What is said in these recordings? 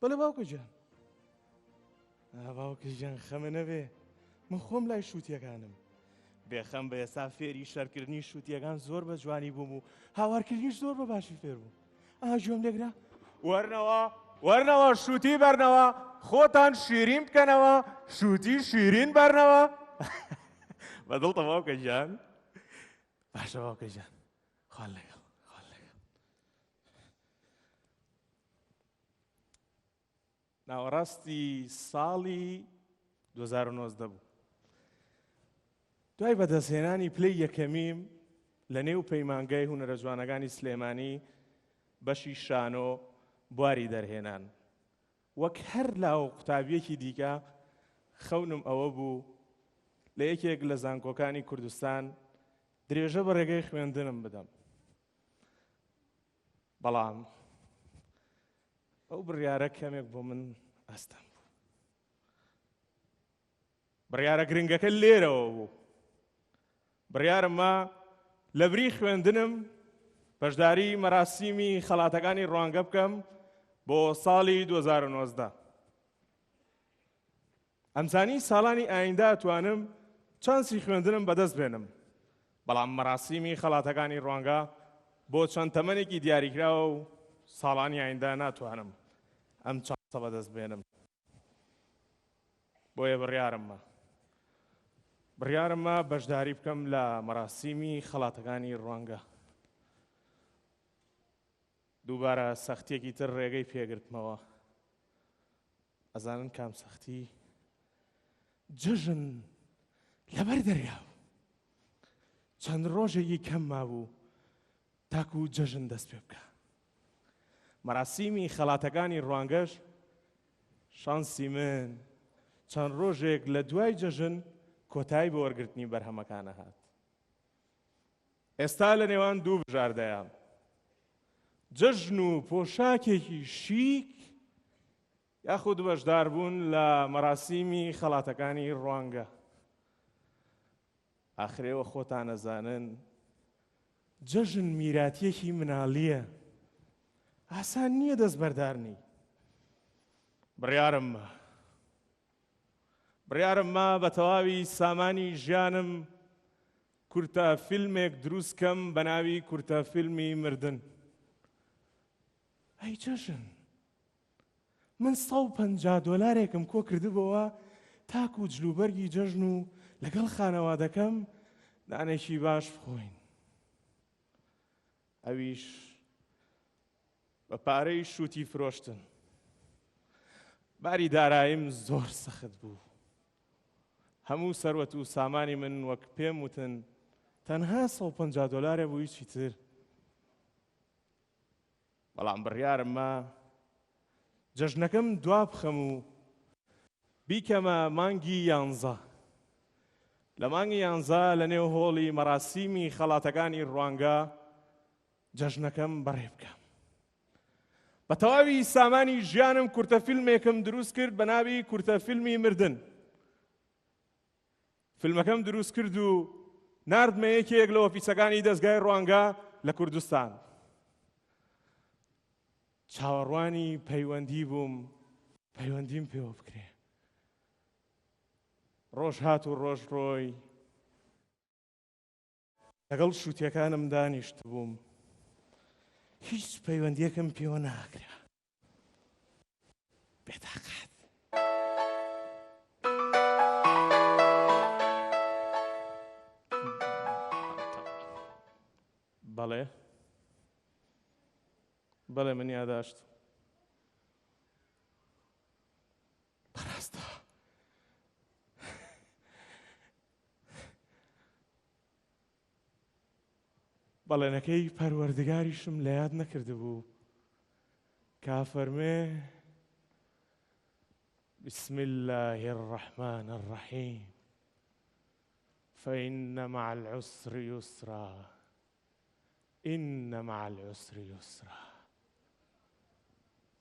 بەڵێ باوکە گیان. ئا باوکە گیان خەمە نەبێ من خۆم لای شووتیەکانم. بێخەم بە ئێستا فێری شەرکردنی شووتیەکان زۆر بە جوانی بووم و هاوارکردنیش زۆر بە باشی فێر بووم. ئا گوێم لێگرە وەرنەوە وەرنەوە شووتی بەرنەوە خۆتان شیرین بکەنەوە شووتی شیرین بەرنەوە بە دڵتە باوکە گیان باشە باوکە گیان خوان لەگەڵ ناوەڕاستی ساڵی 2019 بوو دوای بەدەستهێنانی پلەی یەکەمیم لە نێو پەیمانگای هونەرە جوانەکانی سلێمانی بەشی شانۆ بواری دەرهێنان وەک هەر لاو قوتابیەکی دیکە خەونم ئەوە بوو لە یەکێک لە زانکۆکانی کوردستان درێژە بە ڕێگەی خوێندنم بدەم بەڵام ئەو بڕیارە کەمێک بۆ من ئەستەم بوو بڕیارە گرنگەکە لێرەوە بوو بڕیارم ما لە بری خوێندنم بەشداری مەراسیمی خەڵاتەکانی ڕوانگە بکەم بۆ ساڵی 2009دا ئەمزانی ساڵانی ئایندە ئەتوانم چانسی خوێندنم بەدەست بێنم، بەڵام مەراسیمی خەڵاتەکانی ڕوانگە بۆ چەند تەمەنێکی دیاریکراوە و ساڵانی ئایندە ناتوانم ئەم چانسە بەدەست بێنم. بۆیە بڕیارمە بڕیارمە بەشداری بکەم لە مەراسیمی خەڵاتەکانی ڕوانگە. دووبارە سەختیەکی تر ڕێگەی پێگرتمەوە ئەزانن کام سەختی جەژن لەبەر دەریا بوو چەند ڕۆژێکی کەم مابوو تاکو و جەژن دەست پێ بکە مەراسیمی خەڵاتەکانی ڕوانگەش شانسی من چەند ڕۆژێک لە دوای جەژن کۆتایی بۆ وەرگرتنی بەرهەمەکانە هات ئێستا لە نێوان دوو بژاردەیە، جەژن و پۆشاکێکی شیک یاخود بەشداربوون لە مەراسیمی خەڵاتەکانی ڕوانگە. ئاخرێوە خۆتان ئەزانن جەژن میراتیەکی مناڵیە ئاسان نییە دەست بەردارنی بڕیارم بڕیارم ما بە تەواوی سامانی ژیانم کورتە فیلمێک دروست کەم بە ناوی کورتە فیلمی مردن ئەی جەژن من 150 دۆلارێکم کۆ کردبەوە تاکو و جلوبەرگی جەژن و لەگەڵ خانەوادەکەم نانێکی باش بخۆین ئەویش بە پارەی شووتی فرۆشتن. باری داراییم زۆر سەخت بوو. هەموو سەروەت و سامانی من وەک پێم وتن تەنها سەد و پەنجا دۆلارە بۆ هیچی تر. بەڵام بڕیارم ما جەژنەکەم دوابخەم و بیکەمە مانگی یانزە. لە مانگی یانزە لە نێو هۆڵی مەراسیمی خەڵاتەکانی ڕوانگە جەژنەکەم بەڕێ بکەم. بە تەواوی سامانی ژیانم کورتە فیلمێکم دروست کرد بە ناوی کورتە فیلمی مردن. فیلمەکەم دروست کرد و نردمە یەکێک لە ئۆفیسەکانی دەستگای ڕوانگە لە کوردستان. چاوەڕوانی پەیوەندی بووم پەیوەندیم پێوە بکرێ ڕۆژ هات و ڕۆژ ڕۆی لەگەڵ شووتەکانم دانیشت بووم هیچ پەیوەندیەکەم پێوە ناکرا بێتاقات بەڵێ بەڵێ من یاداشت بەڕاستە بەڵێنەکەی پەروەردگاریشم لە یاد نەکردبوو کافەرمێ بسم الله الرحمن الرحیم فإن مع العسر يسرا ان مع العسر یسرا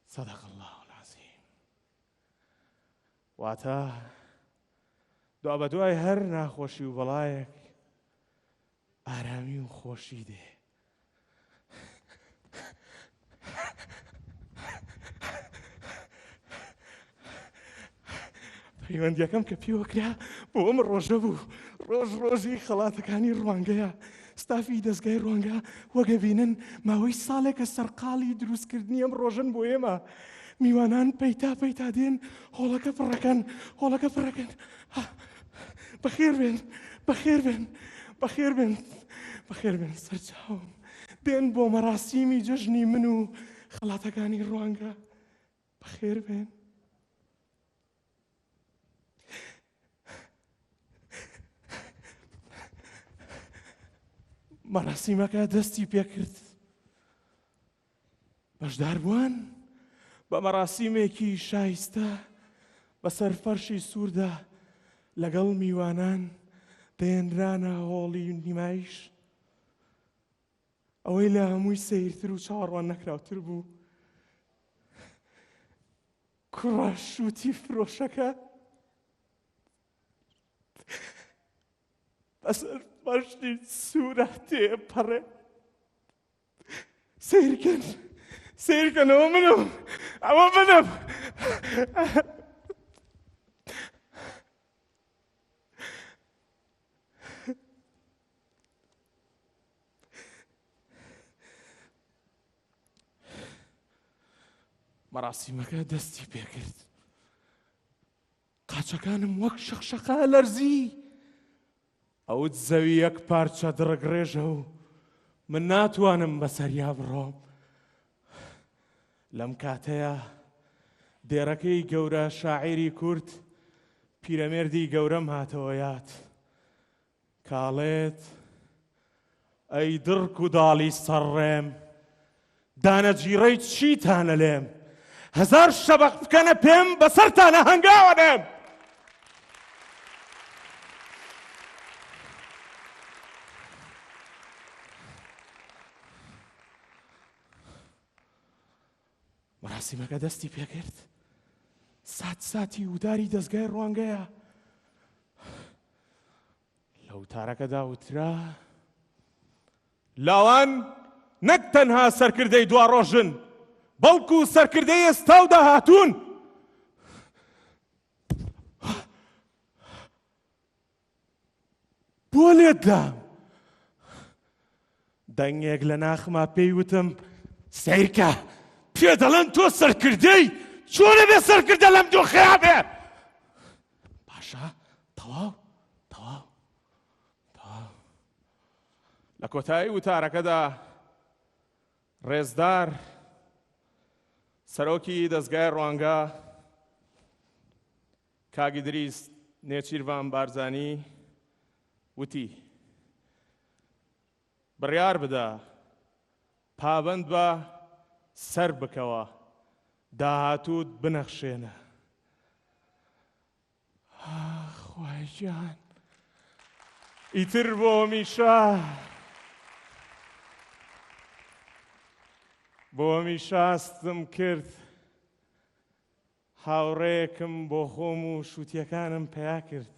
صدق اللە العظیم واتە دوا بە دوای هەر ناخۆشی و بەڵایەک ئارامی و خۆشی دێ پەیوەندیەکەم کە پێوە کرا بۆ ئەم ڕۆژە بوو ڕۆژ ڕۆژی خەڵاتەکانی ڕوانگەیە ستافی دەستگای ڕوانگە وەگەبینن ماوەی ساڵێکە سەرقاڵی دروستکردنی ئەم ڕۆژن بۆ ئێمە میوانان پەیتا پەیتا دێن هۆڵەکە پڕەکەن هۆڵەکە پڕەکەن بەخێر بێن بەخێر بێن بەخێر بێن بەخێر بێن سەرچاوم بێن بۆ مەراسیمی جەژنی من و خەڵاتەکانی ڕوانگە بەخێر بێن. مەراسیمەکە دەستی پێکرد بەشداربووان بە مەراسیمێکی شایستە بەسەر فەرشی سووردا لەگەڵ میوانان دەێنرانە هۆڵی نیمایش ئەوەی لە هەمووی سیرتر و چاڕوان نەکراوتر بوو کوڕە شووتی فرۆشەکە بەسەر بەشتی سوورە تێپەڕێ سیرکەن سیرکەن ئەوە منم ئەوە منم مەراسیمەکە دەستی پێکرد قاچەکانم وەک شەقشەقە ئەلەرزی. ئەوت زەوی یەک پارچە دڕگڕێژە و من ناتوانم بەسەریا بڕۆم. لەم کاتەیە دێرەکەی گەورە شاعیری کورد پیرەمێردی گەورەم هاتەوە یاد. کاڵێت، ئەی دڕک و داڵی سەر ڕێم، دانە جیڕەی چیتانە لێم، هەزار شەبەق بکەنە پێم، بە سەرتانە هەنگاوە نێم! مراسیمەکە دەستی پێکرد سات ساتی وداری دەستگای ڕوانگەیە لە وتارەکەدا وترا لاوان نەک تەنها سەرکردەی دوا ڕۆژن بەڵکو سەرکردەی ئێستا و داهاتوون بۆ لێت دام دەنگێک لە ناخما پێی وتم سیرکە پێ دەڵێن تۆ سەرکردەی چۆنە بێ سەرکردە لەم دۆخەیە بێ باشە تەواو تەواو تەواو لە کۆتایی وتارەکەدا ڕێزدار سەرۆکی دەستگای ڕوانگە کاک ئیدریس نێچیرڤان بارزانی وتی، بڕیار بدە، پابەند بە، سەربکەوە، داهاتووت بنەخشێنە. ئاخ خوایە گیان ئیتر بۆ هەمیشە بۆ هەمیشە ئاستم کرد هاوڕێیەکم بۆ خۆم و شووتیەکانم پەیا کرد.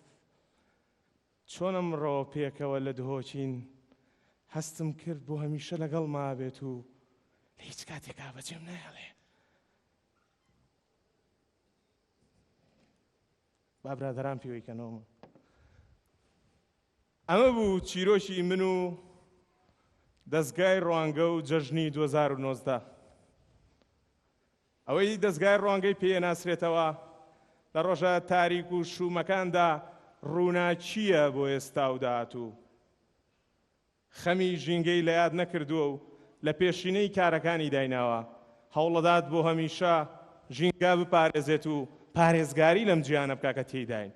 چۆن ئەمڕۆ پێکەوە لە دهۆکین، هەستم کرد بۆ هەمیشە لەگەڵ مابێت و لە هیچ کاتێکا بەجێم نایەڵێ. با برادەران پیوەی کەنەوە. ئەمە بوو چیرۆکی من و دەزگای ڕوانگە و جەژنی دوو هەزار و نۆزدە. ئەوەی دەزگای ڕوانگەی پێ ئەناسرێتەوە لە ڕۆژە تاریک و شوومەکاندا ڕووناکییە بۆ ئێستا و داهاتوو. خەمی ژینگەی لە یاد نەکردووە و لە پێشینەی کارەکانی دایناوە، هەوڵەدات بۆ هەمیشە ژینگە بپارێزێت و پارێزگاری لەم جیهانە بکا کە تێیداین.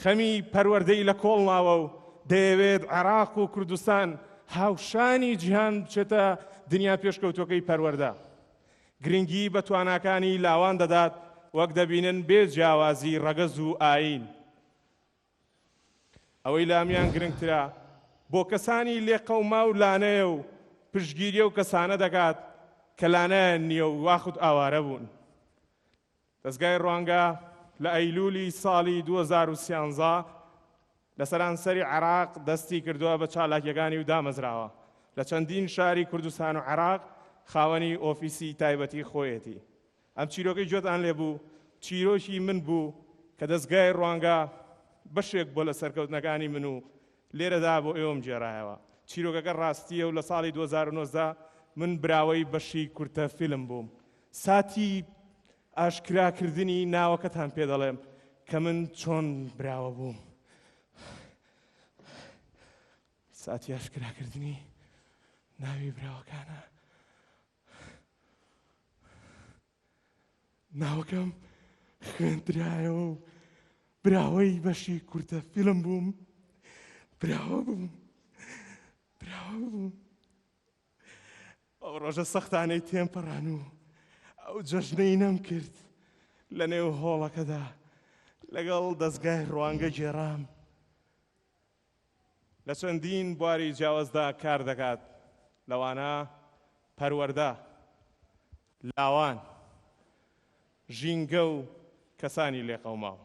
خەمی پەروەردەی لە کۆڵ ناوە و دەیەوێت عێراق و کوردستان هاوشانی جیهان بچێتە دنیا پێشکەوتووەکەی پەروەردە. گرنگی بە تواناکانی لاوان دەدات وەک دەبینن بێ جیاوازی ڕەگەز و ئایین. ئەوەی لامیان گرنگترە بۆ کەسانی لێقەوماو لانەیە و پشتگیری ئەو کەسانە دەکات کە لانەیان نییە و یاخود ئاوارە بوون. دەزگای ڕوانگە لە ئەیلوولی ساڵی دوو هەزار و سیانزە لە سەرانسەری عێراق دەستی کردووە بە چالاکییەکانی و دامەزراوە لە چەندین شاری کوردستان و عێراق خاوەنی ئۆفیسی تایبەتی خۆیەتی. ئەم چیرۆکەی گوێتان لێ بوو چیرۆکی من بوو کە دەزگای ڕوانگە بەشێک بووە لە سەرکەوتنەکانی من و لێرەدا بۆ ئێوەم گێڕایەوە. چیرۆکەکە ڕاستییە و لە ساڵی دوو هەزار و نۆزدە من براوەی بەشی کورتە فیلم بووم. ساتی ئاشکرا کردنی ناوەکەتان پێ دەڵێم کە من چۆن براوە بووم ساتی ئاشکرا کردنی ناوی براوەکانە ناوەکەم خوێندرایەوە و براوەی بەشی کورتە فیلم بووم براوە بووم براوە بووم ئەو ڕۆژە سەختانەی تێمپەڕان و ئەو جەژنەی نەم کرد لە نێو هۆڵەکەدا لەگەڵ دەستگای ڕوانگە گێرام لە چەندین بواری جیاوازدا کار دەکات لەوانە پەروەەردە لاوان ژینگە و کەسانی لێقەوماوە